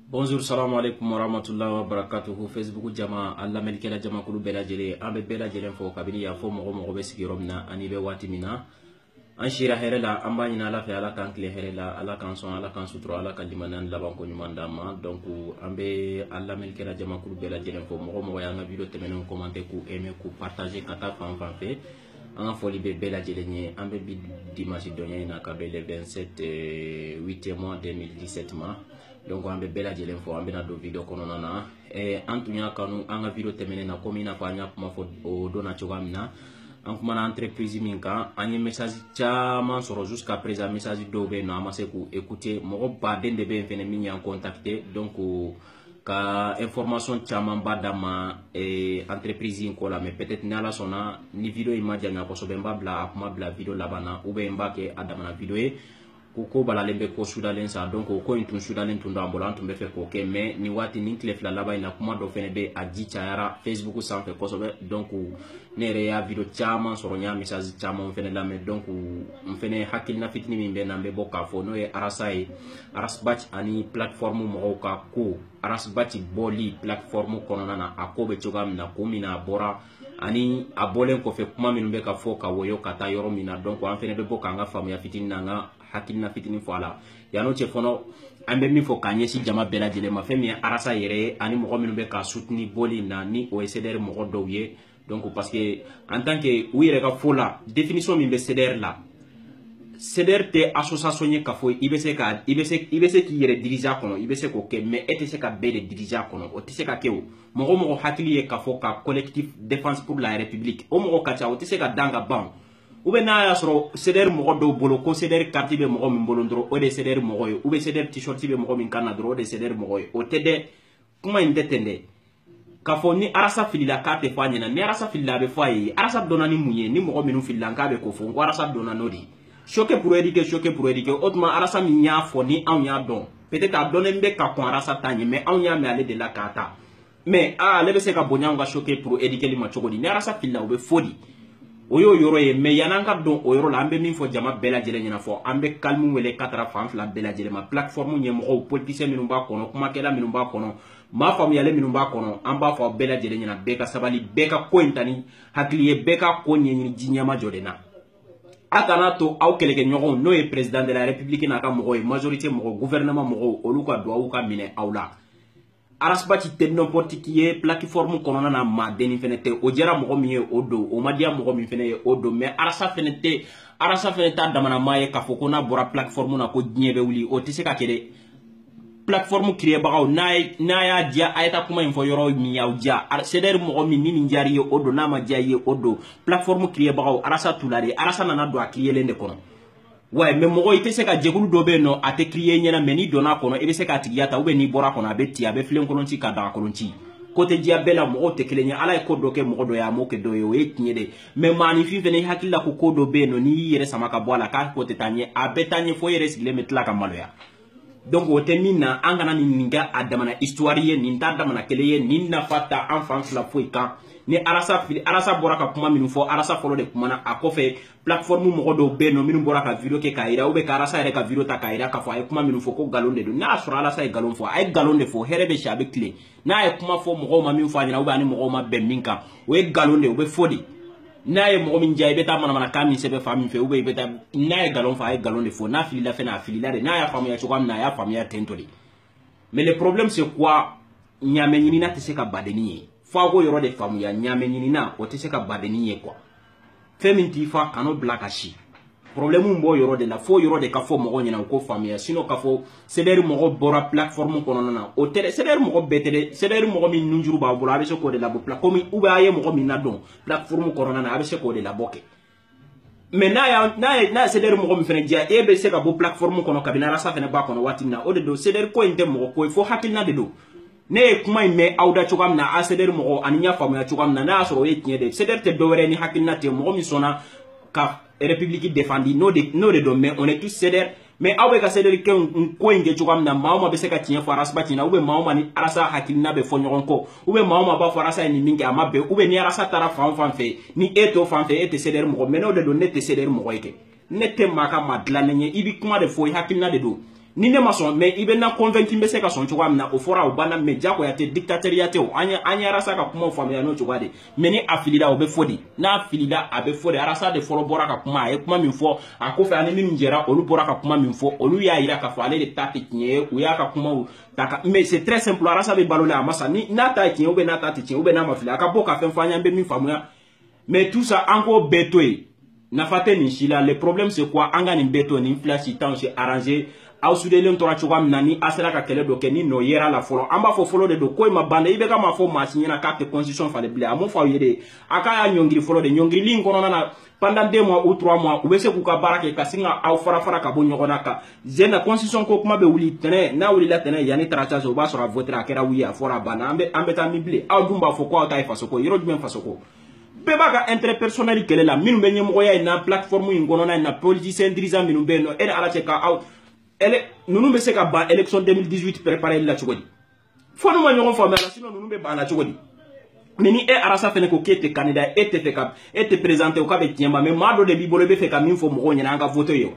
bonjour salamu aleykum warahmatullahi wabarakatuhu facebook jama a lamɛnnikɛla jamakulu bɛɛ lajɛlen an bɛ bɛɛ lajɛlen fo kabini y'a fɔ mɔgɔ mɔgɔ bɛ sigiyɔrɔ min na ani bɛ waati min na an sira hɛrɛ la an b'a ɲini ala fɛ ala k'an tile hɛrɛ la ala k'an sɔn ala k'an sutura ala ka limaniya ni labanko ɲuman d'an ma donc an bɛ a lamɛnnikɛla jamakulu bɛɛ lajɛlen fo mɔgɔ mɔgɔ y'an ka video tɛmɛnenw kɔmante k'u aimé k'u partage ka taa fan fan fɛ an ka foli bɛ bɛɛ lajɛlen ye an bɛ bi dimanche don in na ka bɛn le 27 8e mois 2017 ma donc an bɛ bɛɛ lajɛlen fo an bɛna don video kɔnɔna na eh, an tun y'a kanu an ka video tɛmɛnen na komi i n'a fɔ an y'a kuma fɔ o don na cogoya min na an kumana entreprise min kan an ye message caman sɔrɔ jusqu'à présent message dɔw bɛ yen nɔ an ma se k'u écouter mɔgɔ baden de bɛ yen fɛnɛ min y'an contacter donc ka information caman ba d'an ma eh, entreprise in ko la mais peut-être ni ala sɔnna ni video in ma janya kosɛbɛ n b'a bila a kuma bila video laban na ou bien n b'a kɛ a damana video ye ko ko balalen bɛ ko sudalen sa donc o ko in tun sudalen tun don an bolo an tun bɛ fɛ k'o kɛ mais nin waati nin tile fila laban in na kuma dɔ fɛnɛ bɛ a ji cayara facebook sanfɛ kosɛbɛ donc ne yɛrɛ y'a video caman sɔrɔ n y'a message caman fɛnɛ lamɛn donc n fɛnɛ hakilina fitini min bɛ n na n bɛ bɔ k'a fɔ n'o ye arasa ye ras bath ani plateforme mɔgɔw ka ko ras bath bɔli plateforme kɔnɔna na a ko bɛ cogoya min na ko min na a bɔra ani a bɔlen kɔfɛ kuma minnu bɛ ka fɔ ka wɔyɔ ka taa yɔrɔ min na donc an fɛnɛ bɛ bɔ k'an ka faamuya fitini n'an ka hakilina fitini fɔ a la yan'o cɛ fɔlɔ an bɛ min fɔ k'an ɲɛsin jama bɛɛ lajɛlen ma fɛn min ye arasa yɛrɛ ye ani mɔgɔ minnu bɛ k'a soutenir bɔli in na ni o ye CDR mɔgɔ dɔw ye donc parce que en tant que u yɛrɛ ka fɔ la définition min bɛ CDR la CDR tɛ association ye k'a fɔ i bɛ se ka i bɛ se i bɛ se k'i yɛrɛ diriger a kɔnɔ i bɛ se k'o kɛ mais e tɛ se ka bɛɛ de diriger a kɔnɔ o tɛ se ka kɛ o mɔgɔ o mɔgɔ hakili ye k'a fɔ ka collectif défense pour la république o mɔgɔ ka ca o tɛ se ka dan ka ban o ou bien n'a y'a sɔrɔ CDR mɔgɔ dɔw bolo ko CDR carte bɛ mɔgɔ min bolo dɔrɔn o de ye CDR mɔgɔ ye ou bien CDR t-shirt bɛ mɔgɔ min kan na dɔrɔn o de ye CDR mɔgɔ ye o tɛ dɛ kuma in tɛ ten dɛ k'a fɔ ni arasa filila k'a tɛ fɔ a ɲɛna ni arasa filila a bɛ fɔ a ye arasa dɔnna ni mun ye ni mɔgɔ minnu filila k'a bɛ ko fɔ n ko arasa dɔnna n'o de ye choquer pour éduquer choquer pour éduquer o tuma arasa min y'a fɔ ni anw y'a dɔn peut-être a dɔnnen bɛ ka kɔn arasa ta ɲɛ mais anw y'a mɛn ale de la k'a ta mais aa ale bɛ se ka bonya anw ka choquer pour éduquer li ma cogo di ni arasa filila o bɛ fɔ di o y'o yɔrɔ ye mais yan'an ka don o yɔrɔ la an bɛ min fɔ jama bɛɛ lajɛlen ɲɛna fɔ an bɛ calme wele ka taga fan fila bɛɛ lajɛlen ma plateforme ɲɛmɔgɔw politicien minnu b'a kɔnɔ kumakɛla minnu b'a kɔnɔ maa faamuyalen minnu b'a kɔnɔ an b'a fɔ aw bɛɛ lajɛlen ɲɛna bɛɛ ka sabali bɛɛ ka ko in ta ni hakili ye bɛɛ ka ko ɲɛɲini ji ɲɛmajɔ de na a kana to aw kɛlɛkɛɲɔgɔnw n'o ye président de la république n'a ka mɔgɔw ye majorité mɔgɔw gouvernement mɔgɔw olu ka duwawu ka minɛ aw la arasbati tɛ n'importe qui ye plateforme kɔnɔna na maadenni fɛnɛ tɛ o diyara mɔgɔ min ye o don o ma diya mɔgɔ min fɛnɛ ye o don mais arasa fɛnɛ tɛ arasa fɛnɛ t'a damana maa ye k'a fɔ ko n'a bɔra plateforme na ko diɲɛ bɛ wuli o tɛ se ka kɛ dɛ plateforme kiriyebagaw n'a ye n'a y'a diya a ye taa kuma in fɔ yɔrɔ min y'aw diya CDR mɔgɔ min ni nin diyara i ye o don n'a ma diya i ye o don plateforme kiriyebagaw arasa t'u la dɛ arasa nana don a kiriyelen de kɔnɔ ouais mais mɔgɔ i tɛ se ka jɛkulu dɔ bɛ yen nɔ a tɛ kiriye i ɲɛna mais n'i donna a kɔnɔ i bɛ se k'a tigiya ta ou bien n'i bɔra a kɔnɔ a bɛ ti a bɛ filen kolon ci ka daga kolon ci ko tɛ diya bɛɛ la mɔgɔw tɛ kelen ye ala ye ko dɔ kɛ mɔgɔ dɔ ye a m'o kɛ dɔ ye o ye tiɲɛ de mais maaninfin fɛnɛ i hakili la ko ko dɔ bɛ yen nɔ n'i y'i yɛrɛ sama ka bɔ a la k'a ko tɛ taa ɲɛ a bɛ taa ɲɛ fo i yɛrɛ sigilen bɛ tila ka maloya donc o tɛ min na an kana nin nin kɛ a damana histoire ye nin t'a damana kɛlɛ ye nin nafa t'an fan fila foyi kan ni arasa fili arasa bɔra ka kuma minnu fɔ arasa fɔlɔ de kumana a kɔfɛ plateforme mɔgɔ dɔw bɛ yen nɔ minnu bɔra ka video kɛ k'a yira u bɛ ka arasa yɛrɛ ka video ta k'a yira k'a fɔ a ye kuma minnu fɔ ko nkalon de don n'a y'a sɔrɔ arasa ye nkalon fɔ a ye nkalon de fɔ hɛrɛ bɛ si a bɛ tilen n'a ye kuma fɔ mɔgɔw ma min fɔ a ɲɛna ou bien a ni mɔgɔw ma bɛn min kan o ye nkalon de ye o bɛ fɔ de n'a ye mɔgɔ min diya i bɛ taa manamanakan min sɛbɛn fan min fɛ ou bien i bɛ taa n'a ye nkalon fɔ a ye nkalon de fɔ n'a filila fɛnɛ a filila de n'a y'a faamuya cogoya min na a y'a faamuya ten tɔ de mais le problème c'est quoi ɲaamɛ ɲinina tɛ se ka badennin ye fo a k'o yɔrɔ de faamuya ɲaamɛ ɲinina o tɛ se ka badennin ye quoi fɛn min t'i fa kan'o bila ka si problème b'o yɔrɔ de la f'o yɔrɔ de ka fɔ mɔgɔw ɲɛna u k'o faamuya sinon k'a fɔ CDR mɔgɔ bɔra plateforme kɔnɔna na o tɛ dɛ CDR mɔgɔ bɛɛ tɛ dɛ CDR mɔgɔ min nunjuru b'a bolo a bɛ se k'o de labɔ pla comme ou bien a ye mɔgɔ min ladon plateforme kɔnɔna na a bɛ se k'o de labɔ kɛ mais n'a y'a n'a ye n'a ye CDR mɔgɔ min fɛnɛ diya e bɛ se ka bɔ plateforme kɔnɔ kabini arasa fɛnɛ b'a kɔnɔ waati min na o de don CDR ko in tɛ mɔgɔ ko ye fo hakilina de don ne ye kuma in mɛn aw da cogoya min na aw CDR mɔgɔw ani n y'a faamuya cogoya min na n'a y'a sɔrɔ o ye tiɲɛ de ye CDR tɛ dɔwɛrɛ ni hakilina tɛ mɔgɔ min sɔnna ka république défendi n'o de n'o de don mais on est tous CDR mais aw bɛ ka CDR kɛ n ko in kɛ cogoya min na maa o maa bɛ se ka tiɲɛ fɔ arasbati ɲɛna ou bien maa o maa ni arasa hakilina bɛ fɔ ɲɔgɔn kɔ ou bien maa o maa b'a fɔ arasa ye nin min kɛ a ma bɛn ou bien ni arasa taara fan o fan fɛ ni e t'o fan fɛ e tɛ CDR mɔgɔ mais n'o de don ne tɛ CDR mɔgɔ ye kɛ ne tɛ maa ka maa dilannen ye i bɛ kuma de fɔ i hakilina de don ni ne ma sɔn mais i bɛ na convaincre n bɛ se ka sɔn cogoya min na o fɔra o banna mais jagoya tɛ dictatoriya tɛ o an ye an ye arasa ka kumaw faamuya n'o cogoya de mais ni a filila o bɛ fɔ de n'a filila a bɛ fɔ de arasa de fɔlɔ bɔra ka kuma a ye kuma min fɔ a kɔfɛ ani minnu jɛra olu bɔra ka kuma min fɔ olu y'a yira k'a fɔ ale de ta tɛ tiɲɛ ye u y'a ka kumaw ta ka mais c'est très simple arasa bɛ balo la a ma sa ni n'a ta ye tiɲɛ ou bien n'a ta tɛ tiɲɛ ou bien n'a ma fili a ka bɔ ka fɛn fɔ an ye an bɛ min faamuya mais tout ça an k'o bɛɛ to yen nafa tɛ nin si la le problème c'est quoi an ka nin bɛɛ to nin fila si t'anw si arranger aw sudelen tora cogoya min na ni a sera ka kɛlɛ dɔ kɛ ni nɔ yera a la fɔlɔ an b'a fɔ fɔlɔ de don ko in ma ban dɛ IBK m'a fɔ maa si ɲɛna k'a tɛ constitution falen bilen a m'o fɔ aw ye dɛ a k'a y'a ɲɔngiri fɔlɔ de ɲɔngirili in kɔnɔna na pendant deux mois ou trois mois u bɛ se k'u ka baara kɛ ka sin ka aw farafara ka bɔ ɲɔgɔn na ka zen na constitution ko kuma bɛ wuli tɛnɛ n'a wulila tɛnɛ yanni tarata cɛ o b'a sɔrɔ a voter a kɛra oui a fɔra a banna an bɛ an bɛ taa min bilen aw dun b'a fɔ ko aw ta ye faso ko yɔrɔ jumɛn faso ko bɛɛ b'a ka intérêt personnel kɛlɛ la minnu bɛ ɲɛmɔgɔya in na plateforme in kɔnɔna in na politicien dirigeant minnu bɛ yen nɔ e ni ala cɛ ka aw ninnu bɛ se ka ban élection 2018 préparer la cogo di fo n'u ma ɲɔgɔn faamuya la sinon ninnu bɛ ban a la cogo di mais ni e arasa fɛnɛ ko k'e tɛ candidat e tɛ fɛ ka e tɛ présenter o k'a bɛ tiɲɛ ma mais maa dɔ de b'i bolo i bɛ fɛ ka min fɔ mɔgɔw ɲɛna an ka voter ye wa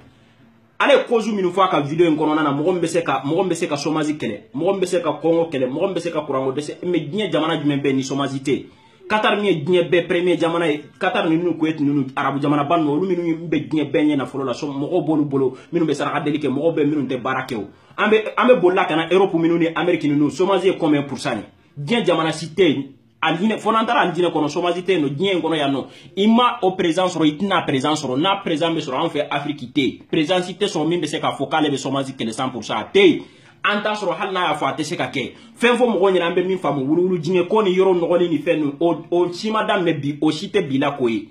ale ye cause minnu fɔ a ka vidéo in kɔnɔna na mɔgɔ min bɛ se ka mɔgɔ min bɛ se ka chômage kɛlɛ mɔgɔ min bɛ se ka kɔngɔ kɛlɛ mɔgɔ min bɛ se ka kuranko dɛsɛ mais diɲɛ jamana jumɛn bɛ ni chômage tɛ yen Qatar min ye diɲɛ bɛɛ premier jamana ye Qatar ninnu Kuwait ninnu arabu jamanaba ninnu olu minnu bɛ diɲɛ bɛɛ ɲɛ nafolo la so mɔgɔw b'olu bolo minnu bɛ saraka deli kɛ mɔgɔw bɛ minnu tɛ baara kɛ o an bɛ an bɛ bolila ka na Europe minnu ni Amérique ninnu chômage ye combien pourcent ye diɲɛ jamana si tɛ yen alijinɛ fo n'an taara alijinɛ kɔnɔ chômage tɛ yen nɔ diɲɛ in kɔnɔ yan nɔ i ma o président sɔrɔ i tɛna président sɔrɔ n'a président bɛ sɔrɔ an fɛ afiriki tɛ yen président si tɛ sɔrɔ min bɛ se k'a fɔ k'ale bɛ chômage kɛlɛ cent pourcent a tɛ yen an t'a sɔrɔ hali n'a y'a fɔ a tɛ se ka kɛ fɛn fɔ mɔgɔw ɲɛna an bɛ min faamu wuluwulu dingɛ ko ni yɔrɔ nɔgɔlen ni fɛn ninnu o si ma daminɛ bi o si tɛ bi la ko ye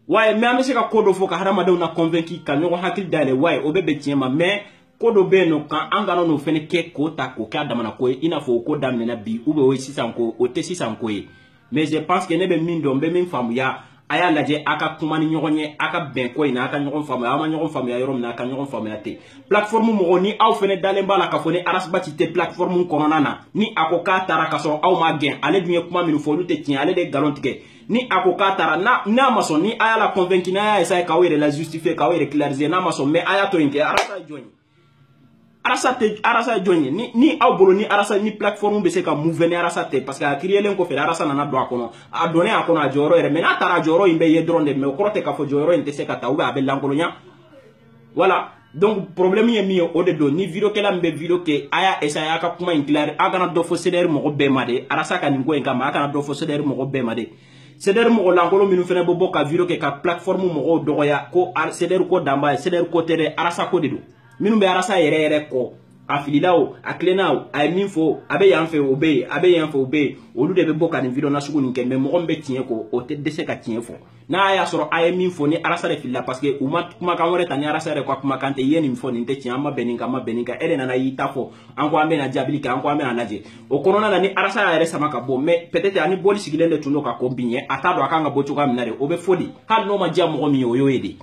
waye mais an bɛ se ka ko dɔ fɔ ka hadamadenw na convaincre ka ɲɔgɔn hakili dayɛlɛ waye o bɛ bɛn tiɲɛ ma mais ko dɔ bɛ yen nɔ kan an kana n'o fɛnɛ kɛ k'o ta k'o kɛ a damana ko ye i n'a fɔ o ko daminɛna bi ou bien o ye sisan ko o tɛ sisan ko ye mais je pense que ne bɛ min dɔn n bɛ min faamuya a y'a lajɛ a ka kuma ni ɲɔgɔn ye a ka bɛn ko in na a ka ɲɔgɔn faamuya aw ma ɲɔgɔn faamuya yɔrɔ min na a ka ɲɔgɔn faamuya ten plateforme mɔgɔ ni aw fɛnɛ dalen b'a la k'a fɔ ni arasibati tɛ plateforme kɔnɔna na ni a ko k'a taara k'a sɔrɔ aw m'a gɛn ale dun ye kuma minnu fɔ olu tɛ tiɲɛ ale de ye galon tigɛ ni a ko k'a taara n'a ma sɔn ni a y'a la convaincre n'a y'a essayer k'aw yɛrɛ la justifier k'aw yɛrɛ clarifier n'a ma sɔn mais a y'a to yen kɛ arasa ye jɔn ye arasa tɛ arasa ye jɔn ye ni ni aw bolo ni arasa ni plateforme bɛ se ka mouver ni arasa tɛ parce que a créelen kɔfɛ arasa nana don a kɔnɔ a donnen a kɔnɔ a jɔyɔrɔ yera mais n'a taara a jɔyɔrɔ in bɛ ye dɔrɔn de mais o kɔrɔ tɛ k'a fɔ jɔyɔrɔ in tɛ se ka ta ou bien a bɛ lankolonya voilà donc problème ye min ye o de don ni vidéokɛla min bɛ vidéo kɛ a y'a essayer a ka kuma in claire a kana dɔ fɔ CDR mɔgɔ bɛɛ ma de arasa ka nin ko in kama a kana dɔ fɔ CDR mɔgɔ bɛɛ ma de CDR mɔgɔ lankolon minnu fɛnɛ bɛ bɔ ka vidéo kɛ ka plateforme mɔgɔw dɔgɔya ko CDR ko dan b'a ye CDR ko tɛ dɛ arasa ko de don minnu bɛ arasa yɛrɛ yɛrɛ kɔ a filila o a tilenna o a ye min fɔ a bɛ yan fɛ o bɛ yen a bɛ yan fɛ o bɛ yen olu de bɛ bɔ ka nin vidéo nasugu nin kɛ mais mɔgɔ min bɛ tiɲɛ kɔ o tɛ dɛsɛ ka tiɲɛ fɔ n'a y'a sɔrɔ a ye min fɔ ni arasa de filila parce que u ma kumakan wɛrɛ ta ni arasa yɛrɛ ka kumakan tɛ i ye nin fɔ nin tɛ tiɲɛ an ma bɛn nin kan an ma bɛn nin kan e de nana y'i ta fɔ an ko an bɛna jaabili kɛ an ko an bɛna lajɛ o kɔnɔna na ni arasa y'a yɛrɛ sama ka bɔ mais peut-être ani bɔli sigilen de tun don ka kɔn bi ɲɛ a t'a dɔn a kan ka bɔ cogoya min na de o bɛ fɔ de hali n'o ma diya mɔgɔ min ye o y'o ye de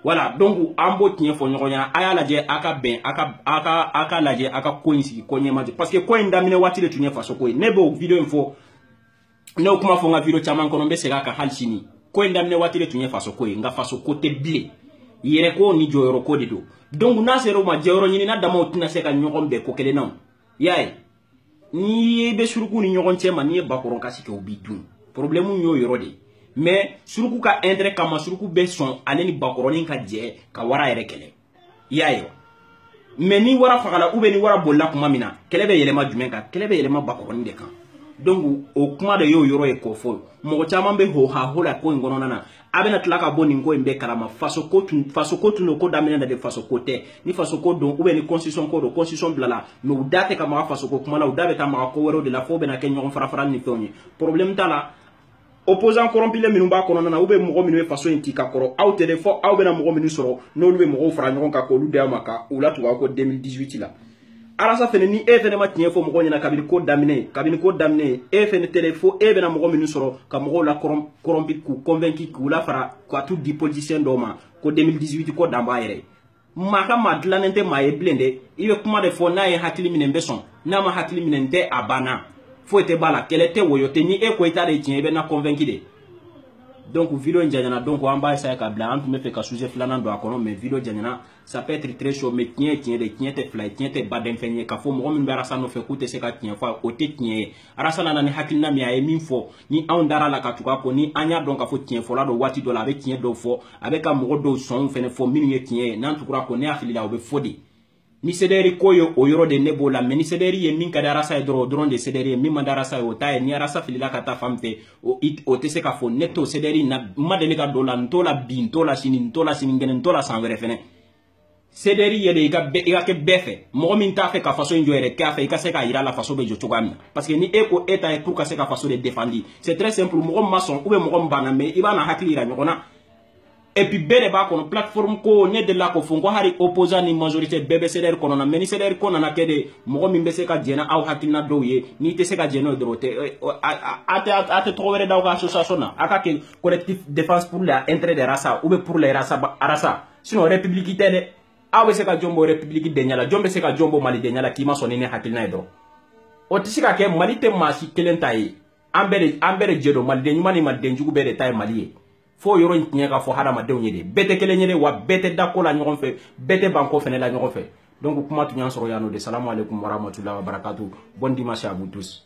voilà donc an b'o tiɲɛ fɔ ɲɔgɔn ɲɛna a y'a lajɛ a ka bɛn a ka a ka a ka lajɛ a ka ko in sigi ko ɲɛma jɔ parce que ko in daminɛ waati de tun ye faso ko ye ne b'o video in fɔ ne y'o kuma fɔ n ka video caman kɔnɔ n bɛ segin a kan hali sini ko in daminɛ waati de tun ye faso ko ye nka faso ko tɛ bilen yɛrɛ ko ni jɔyɔrɔ ko de don donc n'a sera o ma jɔyɔrɔ ɲinina damaw tɛna se ka ɲɔgɔn bɛn ko kelen na o y'a ye n'i bɛ suruku ni ɲɔgɔn cɛma n'i ye bakɔrɔn kasi kɛ o b'i dun problème y'o yɔrɔ de ye mais suruku ka intérêt kama suruku bɛ sɔn ale ni bakɔrɔnin ka jɛ ka wara yɛrɛ kɛlɛ i y'a ye wa mais ni wara fagala ou bien ni wara bolila tuma min na kɛlɛ bɛ yɛlɛma jumɛn kan kɛlɛ bɛ yɛlɛma bakɔrɔnin de kan donc o kuma de y'o yɔrɔ ye k'o fɔ mɔgɔ caman bɛ ho ha ho la ko in kɔnɔna na a bɛna tila ka bɔ nin ko in bɛɛ kalama faso ko tun faso ko tun don ko daminɛ na de faso ko tɛ ni faso ko don ou bien ni constitution ko don constitution bilala mais u da tɛ ka maga faso ko kuma la u da bɛ taa maga ko wɛrɛw de la fo bɛna kɛ ɲɔgɔn farafara ni fɛnw ye problème t'a la opposant corrompulen minnu b'a kɔnɔna na ou bien mɔgɔ minnu bɛ faso in ci ka kɔrɔ aw tɛ dɛ fɔ aw bɛna mɔgɔ minnu sɔrɔ n'olu bɛ mɔgɔw fara ɲɔgɔn kan k'olu di aw ma ka u latugu aw kɔ 2018 la arasa fɛnɛ ni e fɛnɛ ma tiɲɛ fɔ mɔgɔ ɲɛna kabini ko daminɛ kabini ko daminɛ e fɛnɛ tɛrɛ fo e bɛna mɔgɔ minnu sɔrɔ ka mɔgɔw la corrompu k'u convaincu k'u lafara ka t'u di politicien dɔw ma ko 2018 ko dan b'a yɛrɛ maa ka maa dilannen tɛ maa ye bilen dɛ i bɛ kuma de fɔ n'a ye hakili minɛ n bɛ sɔn n'a ma hakili minɛ n tɛ a banna foyi tɛ b'a la kɛlɛ tɛ woyo tɛ ni e ko i ta de tiɲɛ i bɛ ne convaincu de donc video in janyana donc an b'a essayer ka bila an tun b'a fɛ ka sujet filanan don a kɔnɔ mais video janyana ça peut être très chaud mais tiɲɛ ye tiɲɛ de tiɲɛ tɛ fila ye tiɲɛ tɛ baden fɛn ye k'a fɔ mɔgɔ min bɛ arasa nɔfɛ k'u tɛ se ka tiɲɛ fɔ o tɛ tiɲɛ ye arasa nana ni hakilina min a ye min fɔ ni anw dara a la ka tugu a kɔ ni an y'a dɔn k'a fɔ tiɲɛ fɔla don waati dɔ la a bɛ tiɲɛ dɔw fɔ a bɛ ka mɔgɔ dɔw sɔnw fɛnɛ fɔ minnu ye tiɲɛ ye n'an tugura a kɔ ne hakili la o bɛ fɔ de ni CDR ko ye o yɔrɔ de ne b'o la mais ni CDR ye min ka di arasa ye dɔrɔn o dɔrɔn de CDR ye min man di arasa ye o t'a ye ni arasa filila ka taa fan min fɛ o o tɛ se k'a fɔ ne t'o CDR na n ma deli ka don la n t'o la bi n t'o la sini n t'o la sinikɛnɛ n t'o la san wɛrɛ fɛnɛ CDR ye de i ka i ka kɛ bɛɛ fɛ mɔgɔ min t'a fɛ ka faso in jɔ yɛrɛ k'a fɛ i ka se k'a yira a la faso bɛ jɔ cogoya min na parce que ni e ko e ta ye pour ka se ka faso de défendu c'est très simple mɔgɔ min ma sɔn ou bien mɔgɔ min banna mais i b'a na hakili yira ɲɔgɔn na et puis bɛɛ de b'a kɔnɔ plateforme ko ne delila k'o fɔ n ko hali opposant ni majorité bɛɛ bɛ CDR kɔnɔna mais ni CDR ko nana kɛ de mɔgɔ min bɛ se ka jɛn n'aw hakilina dɔw ye n'i tɛ se ka jɛn n'o ye dɔrɔn a tɛ tɔgɔ wɛrɛ d'aw ka association na a ka kɛ collectif défense pour la intérêt de rasa ou bien pour la rasa arasa sinon république tɛ dɛ aw bɛ se ka jɔn bɔ république denya la jɔn bɛ se ka jɔn bɔ malidenya la k'i ma sɔn ni ne hakilina ye dɔrɔn o tɛ se ka kɛ mali tɛ maa si kelen ta ye an bɛɛ de an bɛɛ de jɛ don maliden ɲuman ni maliden jugu bɛɛ de ta ye mali ye fo yɔrɔ in tiɲɛ ka fɔ hadamadenw ye de bɛɛ tɛ kelen ye de wa bɛɛ tɛ da ko la ɲɔgɔn fɛ bɛɛ tɛ ban ko fɛnɛ la ɲɔgɔn fɛ donc kuma tun y'a sɔrɔ yan nɔ de salamu aleykum warahmatulahi wabarakatu bon dimanche à vous tous